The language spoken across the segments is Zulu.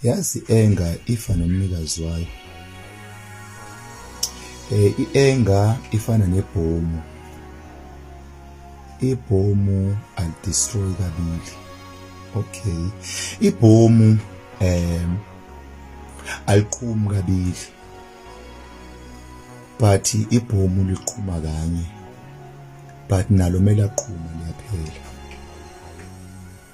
yazi enga ifa nomnikazi wayo eh ienga ifana nebhomu ibhomu alidestroy kabili okay ibhomu um aliqhumi kabili but ibhomu liqhuma kanye but nalo mele aqhuma liyaphela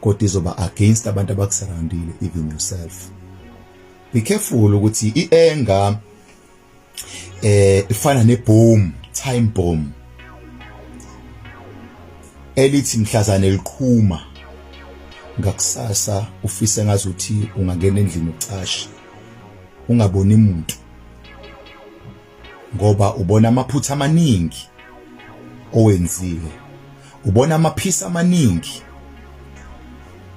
kodwa izoba against abantu abakusurroundile even yourself be careful ukuthi ienga eh ifana ne boom time bomb elithi mhlazane liqhuma ngakusasa ufise ngazuthi ungangena endlini ucashe ungaboni umuntu ngoba ubona amaphutha amaningi owenziwe ubona amaphisa amaningi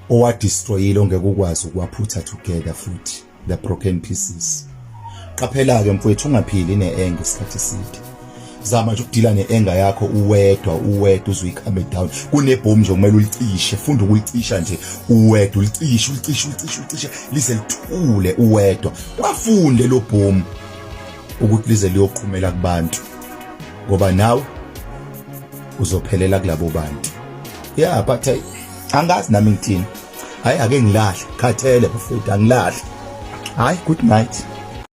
owadestroyile ongeke ukwazi ukuwaphutha together futhi the broken pieces qaphela-ke mfowethu ungaphili ne-enge isikhathi eside zama nje ukudila ne-enga yakho uwedwa uwedwa uzuyikame down kunebhomu nje kumele ulicishe funda ukulicisha nje uwedwa ulicishe ulicishe ulicishe ulicishe lize lithule uwedwa wafunde lo bhomu ukuthi lize liyoqhumela kubantu ngoba nawe uzophelela kulabo bantu yeah but eh, angazi nami ngithini hayi ake ngilahle khathele bafethu angilahle hayi good night